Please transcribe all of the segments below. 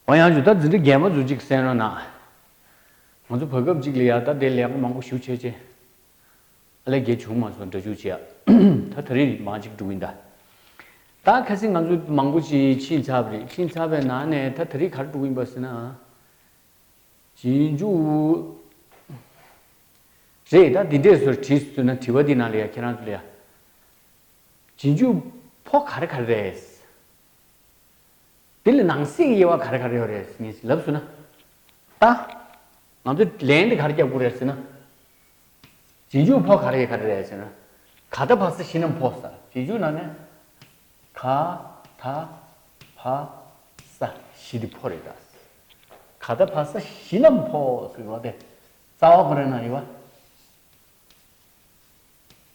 ཨོ་ཡང་ཇུ་ད་འཛིན་གྲི་རྒན་པ་ཟུར་གཅིག་གསན་རོགས་གནང། ང་ཚོ་བོད་སྐབས་གཅིག་ལ་ཡར་ད་དེ་ལས་ཀ་མང་པོ་ཞུ་ཆེ་ཆེ། ཨ་ལས་རྒྱལ་བྱུང་མ་སོང་འདྲ་བྱུག་བྱེད་ཨ། ད་ད་རིག་མང་གཅིག་འགྲོ་གིན་ད། ད་གལ་སྲིད་ང་ཚོ་མང་པོ་ཅིག་ཕྱིན་ཚབ་རེད་ཕྱིན་ཚབ་པའི་ནང་ནས་ད་ད་རིག་གར་འགྲོ་གིན་པ་ཟེར་ན་ཨ། གྱིས་འཇུག་རེད་ད་འདི་འདྲས་སོར་བྲིས་ཟུར་ན་བྲིས་པ་འདི་ནང་ལ་ཡ་ཁྱེད་རང་ཚོ་ལ་ཡ། གྱིས་འཇུག་ཕོ་གར་གར་རེད། དེ་ལ་ནང་གསེས་ཀྱི་དབྱེ་བ་ག་རེ་ག་རེ་ཡོད་རེད་ཟེར་ནས་ལབ་ཟུར་ན། ད། ང་ཚོ་ལན་དེ་ག་རེ་རྒྱབ་དགོས་རེད་ཟེར་ན། རྗེས་འཇུག་ཕོག་ག་རེ་ཡི་ག་རེ་རེད་ཟེར་ན། ག་ད་བག་ས་ཤི་ནམ་ཕོག་ས་རྗེས་འཇུག་ནང་ནས། ག་ད་བག་ས་ཤི་དེ་ཕོག་རེད་གདའ། ག་ད་བག་ས་ཤི་ནམ་ཕོག་ཟེར་བ་དེ་རྩ་བ་ག་རེ་ནང་ཡོད་བ།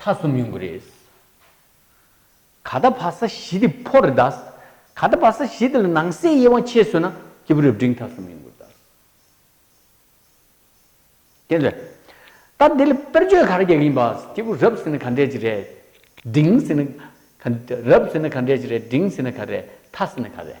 ཐ་གསུམ་ཡོང་གི་རེད། ག་ད་བ་ས་གཞི་དེ་ཕོ་རེད་ད། ག་ད་བ་ས་གཞི་དེ་ལ་ནང་གསེས་དབྱེ་བ་ཕྱེས་ཟོས་ན་སྐྱེས་བུ་རབ་འབྲིང་ཐ་གསུམ་ཡོང་གི་རེད་ད། དེ་ཟོས། ད་དེ་ལ་དཔེར་བརྗོད་ག་རེ་རྒྱག་གི་ཡིན་པ། སྐྱེས་བུ་རབ་ཟེར་ན་ག་འདྲས་ཀྱི་རེད། འབྲིང་ཟེར་ན། རབ་ཟེར་ན་ག་འདྲས་ཀྱི་རེད་འབྲིང་ཟེར་ན་ག་རེད་ཐ་ཟེར་ན་ག་རེད།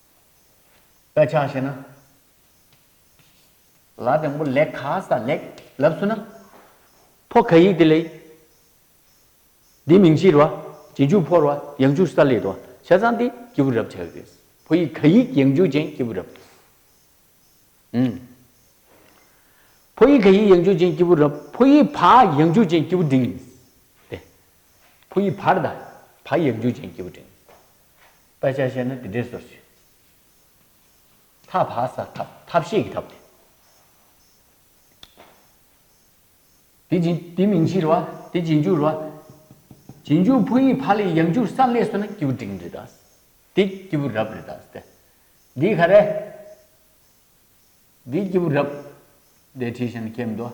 དཔེ་ཆ་ཤེས་ན། ལ་དང་པོ་ལེགས་ཁ་ས་ལེགས་ལབ་སུ་ན། ཕོ་ཁ་ཡིག་དེ་ལེགས། དེའི་མིང་ཕྱིར་བ། རྗེས་འཇུག་ཕོར་བ་ཡང་འཇུག་ས་ལེགས། བྱས་ཙང་དེ་སྐྱེས་བུ་རབ་བྱ་ཡི་རེད། ཕོ་ཡིག་ཁ་ཡིག་ཡང་འཇུག་ཅན་སྐྱེས་བུ་རབ། ཨུན། ཕོ་ཡིག་ཁ་ཡིག་ཡང་འཇུག་ཅན་སྐྱེས་བུ་རབ། ཕོ་ཡིག་བ་ཡང་འཇུག་ཅན་སྐྱེས་བུ་འབྲིང། ཏེ། ཕོ་ཡིག་བར་དང་བ་ཡང་འཇུག་ཅན་སྐྱེས་བུ་འབྲིང། དཔེ་ཆ་བཤད་ན་དེ་འདྲས་ཟེར་ཞིག། ཐབས་བྷ་ས྄་ཐབས་ཐབས་ཤེས་ཀྱི་ཐབས་དེ། དེ་དེ་མིང་ཕྱིར་བ་དེ་རྗེས་འཇུག་ར་རྗེས་འཇུག་བྷུ་ཡིག་བྷ་ལའི་ཡང་འཇུག་ས྄་ལས་སོ་ན་སྐྱེས་བུ་འབྲིང་རེད་དཱ། དེ་སྐྱེས་བུ་རབ་རེད་དཱ་སྟེ། འདི་ག་རེ། འདི་སྐྱེས་བུ་རབ། འདི་བྲིས་ཤིང་ཁྱེད་མི་འདུག།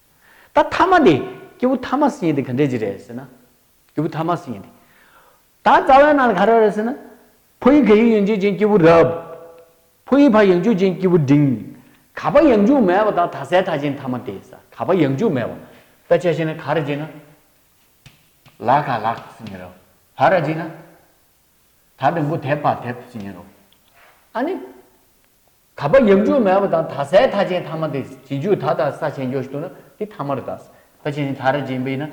ད་མཐའ་མ་དེ་སྐྱེས་བུ་ཐ་མ་སྲིན་ཡིན་དེ་ག་འདྲས་ཅི་རེད་ཟེར་ན། སྐྱེས་བུ་ཐ་མ་སྲིན་ཡིན་དེ། ད་རྩ་བའི་ནང་ལ་ག་རེ་རེད་ཟེར་ན། ཕོ་ཡིག་ག་ཡིག་ཡོན་ཆོད་ཅན་སྐྱེས་བུ་རབ། ཕོ་ཡིག་ཕ་ཡོན་ཆོད་ཅན་སྐྱེས་བུ་འབྲིང། ག་པ་ཡང་འཇུག་མེད་པ་དང་ད་སའི་ཐ་ཆེན་ཐ་མ་དེ་ཟ་ག་པ་ཡང་འཇུག་མེད་པ། ད་ཆ་བྱས་ན་ག་རེ་བྱས་ན། ལ་ག་ལག་སྲིན་ཡིན་རོ། བ་ར་བྱས་ན། ད་དུམ་བུ་དེབ་བ་དེབ་སྲིན་ཡིན་རོ། ཨ་ནི། ད་པ་ཡབ་འཇུག་མེད་པ་དང་ད་སའི་ཐ་ཆེན་ཐ་མ་དེ་བྱེད་འཇུག་ད་དང་ས་ཆེན་འཇོག་བཞི་དུ་ན་དེ་ཐ་མ་རུ་དག། ད་ཆེན་ཆེན་ཐ་ར་ཅན་པའི་ན།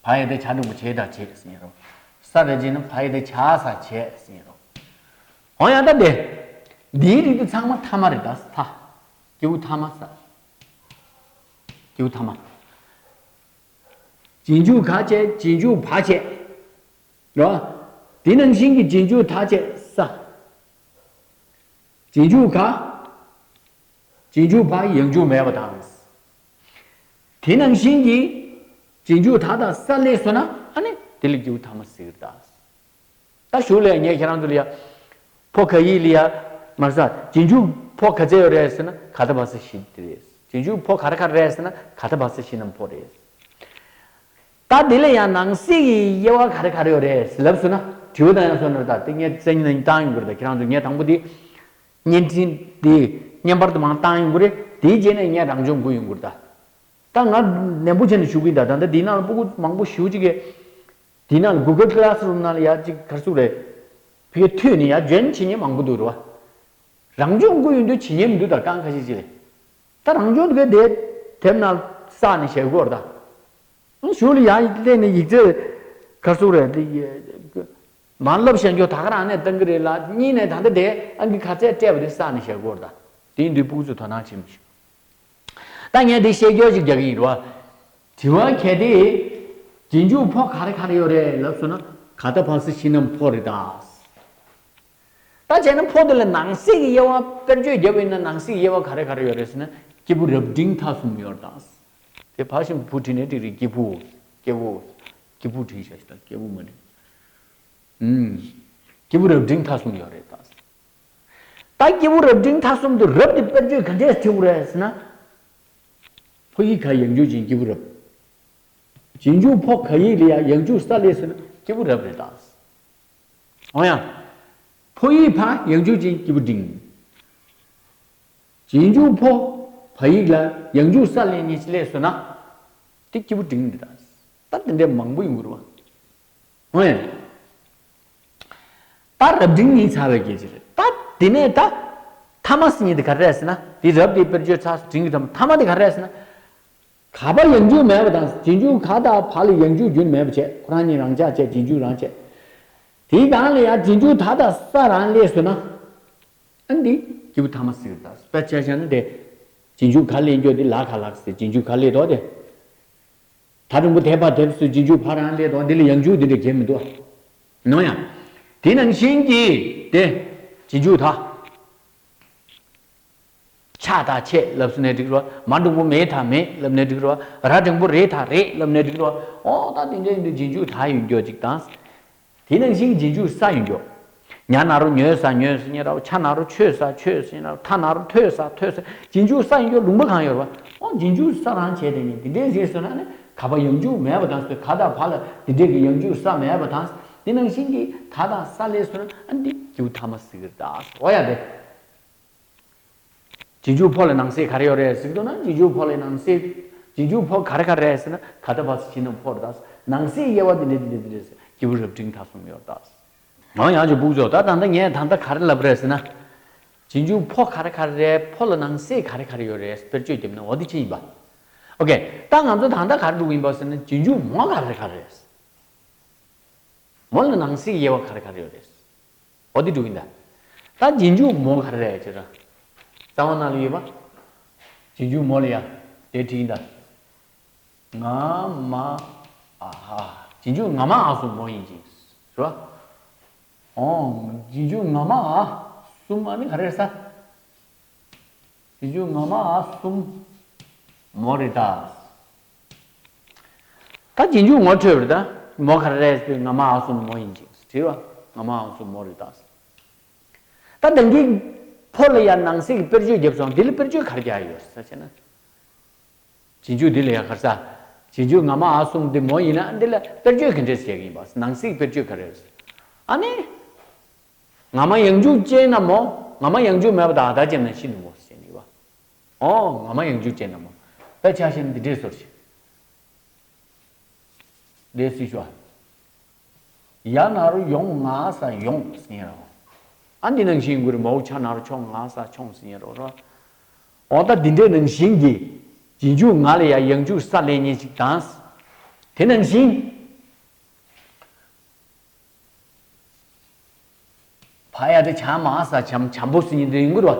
བ་ཡི་དེ་བྱ་དྲུག་པོ་བྱེད་དག་བྱེད་ཟིན་རོ། ས་ར་ཅན་ན་བ་ཡི་དེ་བྱ་ས་བྱེད་ཟིན་རོ། གང་ཡང་ད་དེ། དེའི་རིགས་དེ་ཚང་མ་ཐ་མ་རེ་དག་ས། ཀེའུ་ཐ་མ་ས། ཀེའུ་ཐ་མ། བྱེད་འཇུག་ག་བྱེད་བྱེད་འཇུག་བ་བྱེད། ལ། དེ་རྣམས་བཞིན་གྱི་རྗེས་འཇུག་དག་བྱེད་ས། རྗེས་འཇུག་ག། རྗེས་འཇུག་བག་ཡངས་འཇུག་མེད་པ་དང། དེ་རྣམས་བཞིན་གྱི་རྗེས་འཇུག་དག་དང་ས་ལས་སོ་ན་ཨ་ནི་དེ་ལས་འཇུག་ཐ་མ་སིག་རྟ། རྟ་ཞུགས་ལས་ངས་ཁྱེད་རང་ཚོ་ལ་ཡ། ཕོ་ག་ཡིག་ལ་ཡ། མར་ས། རྗེས་འཇུག་ཕོ་ག་ཙེ་ཡོ་རེད་ཟེར་ན་ག་ཐ་བ་ས་ཤི་དེ་རེད། རྗེས་འཇུག་ཕོ་ག་ར་ཁ་རེད་ཟེར་ན་ག་ཐ་བ་ས་ཤི་ནམ་ཕོ་རེད། ད་དེ་ལས་ཡང་ནང་གསེས་ཀྱི་དབྱེ་བ་ག་རེ་ག་རེ་ཡོད་རེད་ལབ་སོང་ན་དྲི་བ་དང་ཡང་སོ་ནོར་དག་དེ་ངས་བཙན་གནང་བཏང་ཡོང་གི་རེད་ཁྱེད་རང་ཚོས་ངས་དང་པོ་དེ་བརྙན་འཕྲིན་དེ་བརྙན་པར་དུ་མང་བཏང་ཡོང་གི་རེད་དེའི་རྗེས་ནས་ངས་རང་སྦྱོང་དགོས་ཡོང་གི་རེད་ད་ད་ང་ནན་པོ་བྱས་ནས་ཞུ་གི་ཡིན་ད་ད་ལྟ་དེའི་ནང་ལ་སྤུ་གུ་མང་པོ་ཞུ་གཅིག་གི་དེའི་ནང་ལ Google Classroom ནང་ལ་ཡག་གཅིག་གར་སོང་རེད་ཕི་ཀའི་ཐོས་ནས་ཡག་འཇོན་བྱེད་ཉན་མང་པོ་འདུག་རེད་བ་རང་སྦྱོང་དགོས་ཡོང་དུས་བྱེད་ཉན་མི་འདུག་ད་གང་ཁ་ཤས་ཅིག་རེད། ད་རང་བྱུང་གི་དེབ་དེབ་ནང་བསགས་ནས་བྱེད་དགོས་རེད་ད། གཞུག་ལ་ཡང་གཏན་ནས་ཡིག་རྩལ་གར་སོང་རེད། མ་བསླབ་བྱེད་འཇོག་ད་ག་རང་ནས་གཏང་གི་རེད་ལ་གཉིས་ནས་ད་ལྟ་དེ་ཨང་གི་གར་རྩལ་སྤྲད་པ་དེ་བསགས་ནས་བྱེད་དགོས་རེད་ད། དེ་འདི་ཕུགས་ཚུགས་དོ་སྣང་བྱེད་མི་ཤེས། ད་ངས་དེ་ཤེས་རྒྱོགས་ཅིག་རྒྱག་གི་ཡིན་རོ། དྲི་བ་གལ་ཏེ། རྗེས་འཇུག་ཕོག་ག་རེ་ག་རེ་ཡོད་རེད་ལབ་སོང་ན་ག་ད་ཕག་སེ་ཕྱི་ནམ་ཕོག་རེད་ད། ད་བྱས་ན་ཕོ་དེ་ལ་ནང་གསེས་ཀྱི་དབྱེ་བ་དཔེར་བརྗོད་བརྒྱབ་ཡོད་ན་ནང་གསེས་ཀྱི་དབྱེ་བ་ག་རེ་ག་རེ་ཡོད་རེད་ཟེར་ན་སྐྱེས་བུ་རབ་འབྲིང་ཐ་གསུམ་ཡོད་རེད་དང། དེ་ཕ་བཞིན་བུ་བྲིས་ནས་དེ་རིགས་སྐྱེས་བུ། སྐྱེས་བུ། སྐྱེས་བུ་བྲིས་བྱས་ཟེར་ན་སྐྱེས་བུ་མ་རེད། སྐྱེས་བུ་རབ་འབྲིང་ཐ་གསུམ་ཡོད་རེད་དང། ད་སྐྱེས་བུ་རབ་འབྲིང་ཐ་གསུམ་དུ་རབ་དེ་དཔེར་བརྗོད་ག་འདྲས་བྲིའོ་རེད་ཟེར་ན། ཕོ་ཡིག་ག་ཡང་འཇུག་ཅིང་སྐྱེས་བུ་རབ། ཅིང་འཇུག་ཕོ་ག་ཡིག་ལ་ཡང་ཡང་འཇུག་ས་ལས་ཟེར་ན་སྐྱེས་བུ་རབ་རེད་དང། འོང་ཡང། ཕོ་ཡིག་ཕ་ཡང་འཇུག་ཅིང་སྐྱིད་པོ་འབྲིང། གྱིས་འཇུག་ཕོ་བ་ཡིག་ལ་ཡང་འཇུག་ས་ལན་གཉིས་ལས་བཟོས་ན། དེ་སྐྱིད་པོ་འབྲིང་འདི་དག་ལྟར་དེ་འདྲའི་མང་པོ་ཡོང་གི་རུང་བ་འོང་ཡང། ད་རབ་འབྲིང་ནི་ཚ་བའི་རྒྱལ་སྤྱི་རེད་ད། དེ་ནས་ད། ཐ་མ་སི་ཉིད་དེ་ག་རེ་རེད་ཟེར་ན། དེ་རབ་དེའི་དཔེར་བརྗོད་ཚགས་སུ་བྲིས་འགྱུར་ཐ་མ། ཐ་མ་དེ་ག་རེ་རེད་ཟེར་ན། ག་པར་ཡང་འཇུག་མེད་པ་དང་རྗེས་འཇུག་ག་དག་བར་ལ་ཡང་འཇུག་རྒྱུན་མེད་པར་བྱས་ཁོ་རང་ཉིད་རང་ཅག་བྱས་རྗེས་འཇུག་རང་བྱས། དེའི་གང་ལ་ཡང་རྗེས་འཇུག་ད་ལྟ་ས་རང་ལས་ཟེར་ན། ཨ་འདི། སྐྱེས་བུ་ཐ་མ་སིག་ད་སྤེ་ཆལ་ཤ་ན་དེ། རྗེས་འཇུག་ག་ལས་འགྱོ་དེ་ལ་ག་ལགས་ཟེར་རྗེས་འཇུག་ག་ལས་དོག་དེ། ད་རིང་པོ་དེ་བར་དེབ་སུ་རྗེས་འཇུག་བར་རང་ལས་དོག་འདི་ལ་ཡང་འཇུག་འདི་འདྲ་གྱེར་མི་འདུག་ཨ། ནོ་ཡང། དེ་ནང་བཞིན་གྱིས་དེ། རྗེས་འཇུག་ད། ཕྱག་དང་ཕྱེད་བསླབ་སུ་ནའི་སྒྲིག་རོ། མ་འགྲོགས་པོ་མེད་དང་མེད་བསླབ་ནའི་སྒྲིག་རོ། ར་འབྲིང་པོ་རེད་དང་རེད་བསླབ་ནའི་སྒྲིག་རོ། ཨོ་ད་དེ་འདྲའི་ཡིན་དུས་རྗེས་འཇུག་ལྷ་ཡོད་མགྱོགས་ཅིག་དང། དེ་ནང་བཞིན་རྗེས་འཇུག་ས་ཡོད་མགྱོགས། ཉྭ་ནག་རོ་ཉོས་ས་ཉོས་ས་ཉོས་ར་བ་ཆ་ནག་རོ་ཆོས་ས་ཆོས་ས་ཉོས་ར་བ་ཐ་ནག་རོ་ཐོས་ས་ཐོས་ས་རྗེས་འཇུག་ས་ཡོད་མགྱོགས་ལུང་པ་གང་ཡོད་ར་བ་ཨོ་རྗེས་འཇུག་ས་རང་བྱས་དེ་ནི་དེ་འདྲའི་ཟེར་སོ་ན་ནི་ག་པ་ཡང་འཇུག་མེད་པ་དང་སོས་ག་དང་བ་ལ་དེ་འདྲའི་གི་ཡང་འཇུག་ས་མེད་པ་དང། དེ་ནང་བཞིན་གི་ད་དང་ས་ལས་སོ་ན་ཨ་འདི་རྒྱུག་ཐ་མ་ཟིག་ར་དང་ཨོ་ཡ་དེ། རྗེས་འཇུག་ཕོ་ལ་ནང་གསེས་ག་རེ་ཡོད་རེད་ཟེར་དུས་ན་རྗེས་འཇུག་ཕོ་ལ་ནང་གསེས་རྗེས་འཇུག་ཕོ་ག་རེ་ག་རེ་རེད་ཟེར་ན་ད་ལྟ་བར་ཕྱི་ནང་ཕོར་དག་ནང་གསེས་དབྱེ་བ་འདི་འདྲས་འདི་འདྲས་འདི་འདྲས་ཟེར་སྐྱེས་བུ་རབ་འབྲིང་ཐ་གསུམ་ཡོད་དག་ཟེར། ང་ཡང་ཅིག་སྦུག་བྱོས་ད་ད་ལྟ་ངས་ད་ལྟ་ག་རེ་ལབ་རེད་ཟེར་ན། རྗེས་འཇུག་ཕོ་ག་རེ་ག་རེ་རེད་ཕོ་ལ་ནང་གསེས་ག་རེ་ག་རེ་ཡོད་རེད་དཔེར་བརྗོད་བརྒྱབ་ན་འོ་དེ་ཅི་ཡིན་པ། ཨོ་ཀེ་ད་ང་ཚོ་ད་ལྟ་ག་རེ་སྒྲུག་ཡིན་པ་ཟེར་ན་རྗེས་འཇུག་མོ་ག་རེ་ག་རེ་རེད། མོ་ལ་ནང་གསེས་དབྱེ་བ་ག་རེ་ག་རེ་ཡོད་རེད། ཨོ་དེ་དྲུག་ཡིན་ད། ད་རྗེས་འཇུག་མོ་ག་རེ་རེད་ཅེ་ར། རྩ་བ་ན་ལ་ཡོད་པ། རྗེས་འཇུག་མོ་ལ་ཡ། དེ་དྲི་ཡིན་ད། ང་མ་ཨ་ཧ། རྗེས་འཇུག་ང་མ་ཨ་གསུམ་མོ་ཡིན་ཅིང། རེད་བ། ཨོ། རྗེས་འཇུག་ང་མ་ཨ་གསུམ་ཨ་ནི་ག་རེ་རེད་ས། རྗེས་འཇུག་ང་མ་ཨ་གསུམ་མོ་རེད་ད། ད་རྗེས་འཇུག་ངོ་འཕྲོད་པར་ད་མོ་ཁ་རས་པས་ང་མ་ཧའོ་སུ་མོ་ཡིན་ཅིག་དྲིས་པར་ང་མ་ཧའོ་སུ་མོ་རེད་ད་ཟེར། ད་དེང་གི་བོད་ལ་ཡང་ནང་སྲིད་ཀྱི་དཔེར་བརྗོད་བརྒྱབ་སོང་འདི་ལ་དཔེར་བརྗོད་ག་རེ་རྒྱག་ཡོད་རེད་ཟེར་བྱས་ན། རྗེས་འཇུག་འདི་ལ་ཡང་ཁར་ས་རྗེས་འཇུག་ང་མ་ཧའོ་སུ་མོ་འདི་མོ་ཡིན་ན་འདི་ལ་དཔེར་བརྗོད་ག་འདྲས་བྱེད་ཀྱི་ཡིན་པ་ནང་སྲིད་ཀྱི་དཔེར་བརྗོད་ག་རེ་རེད། ཨ་ནི། ང་མ་ཡང་འཇུག་ཅན་ན་མོ་ང་མ་ཡང་འཇུག་མེད་པ་ད་ད་ཅན་ན་ཤི་འདུག་མོ་ཟེར་བྱས་ནས་ཡོད་པ། ཨོ། ང་མ་ཡང་འཇུག་ཅེས་ན་མོ། ད་ཆགས་ཞེན་འདི་འདྲས་སོར་ཞིག། ལས་སུས་ཞུ་ཨ། ཡ་ན་རུ་ཡོང་ང་ས་ཡོང་ཟིན་ཡ་ར་ཨོ། ཨ་འདི་ནང་བཞིན་དགོས་རེད་མ་འོ་ཆ་ན་རུ་ཆོང་ང་ས་ཆོང་ཟིན་ཡ་ར་ཨོ། ཨོ་ད་འདི་འདྲས་ནང་བཞིན་གྱི། གྱི་འཇུག་ང་ལ་ཡ་ཡང་འཇུག་ས་ལས་ཉན་ཞིག་དང། དེ་ནང་བཞིན། བ་ཡ་དྲི་བྱ་མ་ས་བྱམས་བྱམས་པོ་སི་ཉི་འདི་ཡིན་གུ་རུ་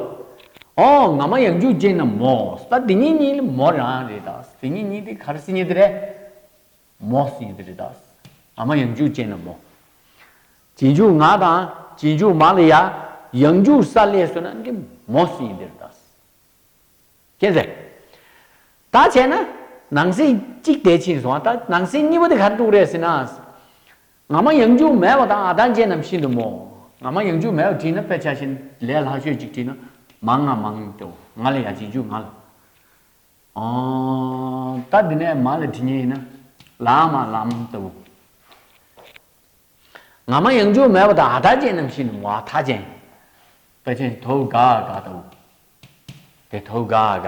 ཨོ་ང་མ་ཡང་འཇུག་ཅེས་ན་མོ་ས་དེ་ཉིད་ཉིད་ལི་མོ་རང་རེད་ད་ས་དེ་ཉིད་ཉིད་དེ་གར་སི་ཉི་དེ་རེད་མོ་སི་ཉི་དེ་རེད་ད་ས་ང་མ་ཡང་འཇུག་ཅེས་ན་མོ། བྱེད་འཇུག་ང་དང་བྱེད་འཇུག་མ་ལི་ཡ་ཡང་འཇུག་ས་ལས་སོ་ན་འདི་མོ་སི་ཉི་དེ་རེད་ད་ས་ཁྱེད་ཟེར། ད་བྱས་ན་ནང་སེ་གཅིག་དེ་ཕྱིན་སོང་ད་ནང་སེ་གཉིས་པོ་དེ་གར་འདུག་རེད་སི་ན་ས་ང་མ་ཡང་འཇུག་མལ་བ་དང་ཨ་དང་རྗེ་རྣམས་ཤིན་ཏུ་མོ། ང་མ་ཡང་འཇུག་མལ་བ་བྲིས་ན་དཔེ་ཆ་བཞིན་ལས་ལྷག་ཤོས་གཅིག་བྲིས་ན་མང་ང་མང་ཏོ་ང་ལ་ཡ་གཅིག་འཇུག་ང་ལ་ཨང། ད་འདི་ནས་མ་ལ་བྲི་ཉེ་ཡིན་ན་ལའང་མ་ལའམ་ལྟ་བུ། ང་མ་ཡང་འཇུག་མལ་བ་དང་ཨ་དང་རྗེ་རྣམས་ཤིན་ཏུ་མོ་ཨ་ཐ་ཅན། དཔེ་ཆ་བཞིན་དོ་བུ་ག་ཨ་ག་ལྟ་བུ། དེ་དོ་བུ་ག་ཨ་ག།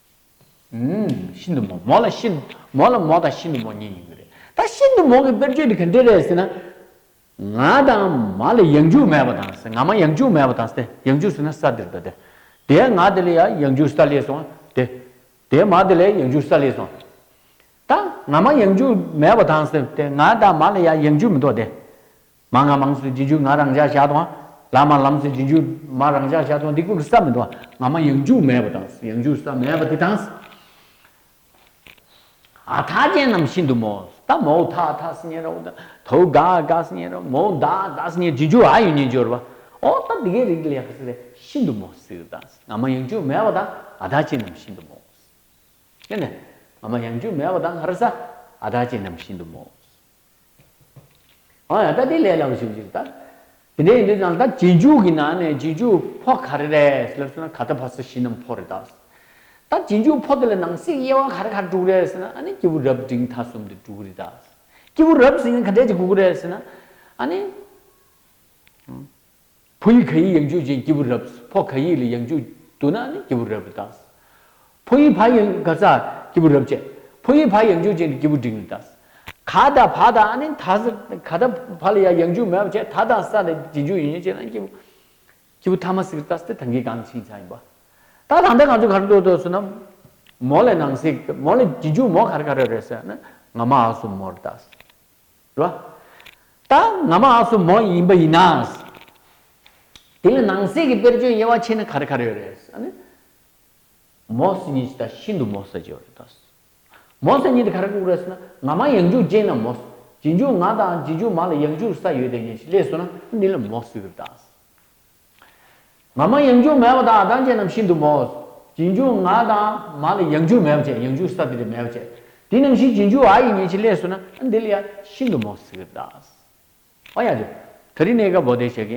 ཤིན་ཏུ་མོ་མོ་ལ་ཤིན་ཏུ་མོ་ལ་མོ་དང་ཤིན་ཏུ་མོ་གཉིས་ཡིན་གྱི་རེད། ད་ཤིན་ཏུ་མོ་གི་དཔེར་བརྗོད་དེ་ག་འདྲས་རེད་ཟེར་ན། ང་དང་མ་ལ་ཡང་འཇུག་མེད་པ་དང་ཟེར་ང་མ་ཡང་འཇུག་མེད་པ་དང་ཟེར་ཡང་འཇུག་ཟེར་ན་ས་འདིར་འདོད་དེ། དེའི་ང་དེ་ལ་ཡང་ཡང་འཇུག་ས་ལས་སོང་དེ། དེའི་མ་དེ་ལ་ཡང་འཇུག་ས་ལས་སོང་དེ། ད་ང་མ་ཡང་འཇུག་མེད་པ་དང་ཟེར་དེ་ང་དང་མ་ལ་ཡང་ཡང་འཇུག་མི་འདོད་དེ། མ་ང་མང་སུ་འབྱིན་འཇུག་ང་རང་བཞག་བྱ་དང། ལ་མ་ལམ་སུ་འབྱིན་འཇུག་མ་རང་བཞག་བྱ་དང་འདི་ཀུན་གྱི་ས་མེད་དོ། ང་མ་ཡང་འཇུག་མེད་པ་དང། ཡང་འཇུག་ས་མེད་པ་དེ་དང། ཨ་ཐ་ཅན་རྣམས་ཤིན་ཏུ་མོ། ད་མོ་ཨུ་ཐ་ཨ་ཐ་སི་ཉེ་ར་ཨུ་ད་ཐ་ཨུ་ག་ཨ་ག་སི་ཉེ་ར་མོ་ཨུ་ད་ཨ་ད་སི་ཉེ་འབྱིན་འཇུག་ཨ་ཡོད་ཉེ་འབྱོར་བ། ཨོ་ད་འདི་གའི་རིགས་ལས་ཁ་སི་ལས་ཤིན་ཏུ་མོ་སི་ཨུ་དང། ང་མ་ཡང་འཇུག་མེད་པ་དང་ཨ་ཐ་ཅན་རྣམས་ཤིན་ཏུ་མོ། ཨོ་ན། ང་མ་ཡང་འཇུག་མེད་པ་དང་ཨ་ར་ས་ཨ་ཐ་ཅན་རྣམས་ཤིན་ཏུ་མོ། ཨ་ཡང་ད་དེ་ལས་ལ་བཞུགས་ཅིག་ད། དེ་འདྲའི་ཡིན་དུས་ཀྱང་ད་རྗེས་འཇུག་གི་ནང་ནས་རྗེས་འཇུག་ཕོ་ག་རེ་རེད་ཟེར་ལབ་སོང་ན་ག་ད་ཕ་ས་བཞི་རྣམས་ཕོ་རེད་ད། ད་རྗེས་འཇུག་ཕོ་དེ་ལ་ནང་གསེས་དབྱེ་བ་ག་རེ་ག་རེ་དྲུག་རེད་ཟེར་ན་ཨ་ནི་སྐྱེས་བུ་རབ་འབྲིང་ཐ་གསུམ་དེ་དྲུག་རེད་ད། སྐྱེས་བུ་རབ་ཟིན་ག་འདྲས་ཀྱི་དགུ་གུ་རེད་ཟེར་ན་ཨ་ནི། ཕོ་ཡིག་ག་ཡིག་ཡང་བཅུ་ཅན་སྐྱེས་བུ་རབ་ཕོ་ག་ཡིག་ལ་ཡང་བཅུ་འདུག་ན་ནི་སྐྱེས་བུ་རབ་རེ་བཏགས། ཕོ་ཡིག་བྷ་ཡང་ག་ཚ་སྐྱེས་བུ་རབ་བཅས་ཕོ་ཡིག་བྷ་ཡང་བཅུ་ཅན་སྐྱེས་བུ་འབྲིང་རེ་བཏགས། ག་དང་བྷ་དང་ནི་ད་ཟེར་ག་དང་བྷ་ལ་ཡང་ཡང་བཅུ་མེད་པ་བཅས་ད་དང་ས་ལ་རྗེས་འཇུག་ཡོད་ཉེས་བཅས་ན་ནི་སྐྱེས་བུ་སྐྱེས་བུ་ཐ་མ་སིག་རེ་བཏགས་སྟེ་ད་གིས་གང་ཕྱིན་ཚ་ཡིན་པ། ད་དང་ད་གང་ཚུལ་ག་རེ་འདོད་འདོད་ཟེར་ན། མོ་ལ་ནང་སིག་མོ་ལ་རྗེས་འཇུག་མོ་ག་རེ་ག་རེ་རེད་ཟེར་ན་ང་མ་ཨ་སུ་མོ་རེ་བཏགས། ལ། ད་ང་མ་སོ་མོ་ཡིན་པ་ཡིན་ན། དེ་ལ་ནང་གསེས་ཀྱི་དཔེར་བརྗོད་དབྱེ་བ་ཕྱེ་ན་ག་རེ་ག་རེ་ཡོད་རེད། ཨ་ནི། མོ་སི་ཉིད་ཅི་ད་ཤིན་ཏུ་མོ་སི་ཅེ་ཡོད་རེད། མོ་སི་ཉིད་ག་རེ་བཀུག་རེད་ཟེར་ན་ང་མ་ཡང་འཇུག་ཅེ་ན་མོ་སི་ཇི་འཇུག་ང་དང་ཇི་འཇུག་མ་ལ་ཡང་འཇུག་ས་ཡོད་དེ་ཉིད་ཅི་ལས་སོ་ན་འདི་ལ་མོ་སི་ཡོད་རེད། ང་མ་ཡང་འགྱུར་མེད་པ་དང་ཨ་ཐང་ཅན་རྣམས་ཤིན་ཏུ་མོས། རྗེས་འཇུག་ང་དང་མ་ལ་ཡང་འགྱུར་མེད་པ་བྱས་ཡང་འཇུག་ས་ཏི་རི་མེད་པ་བྱས། དེ་རྣམས་ཤིག་རྗེས་འཇུག་ཨ་ཡི་ཉེ་ཆེ་ལས་སུ་ན་ཨ་འདི་ལ་ཡང་ཤིན་ཏུ་མོས། ཨོ་ཡ། ད་རི་ནས་ཀ་བོ་དེ་བྱས།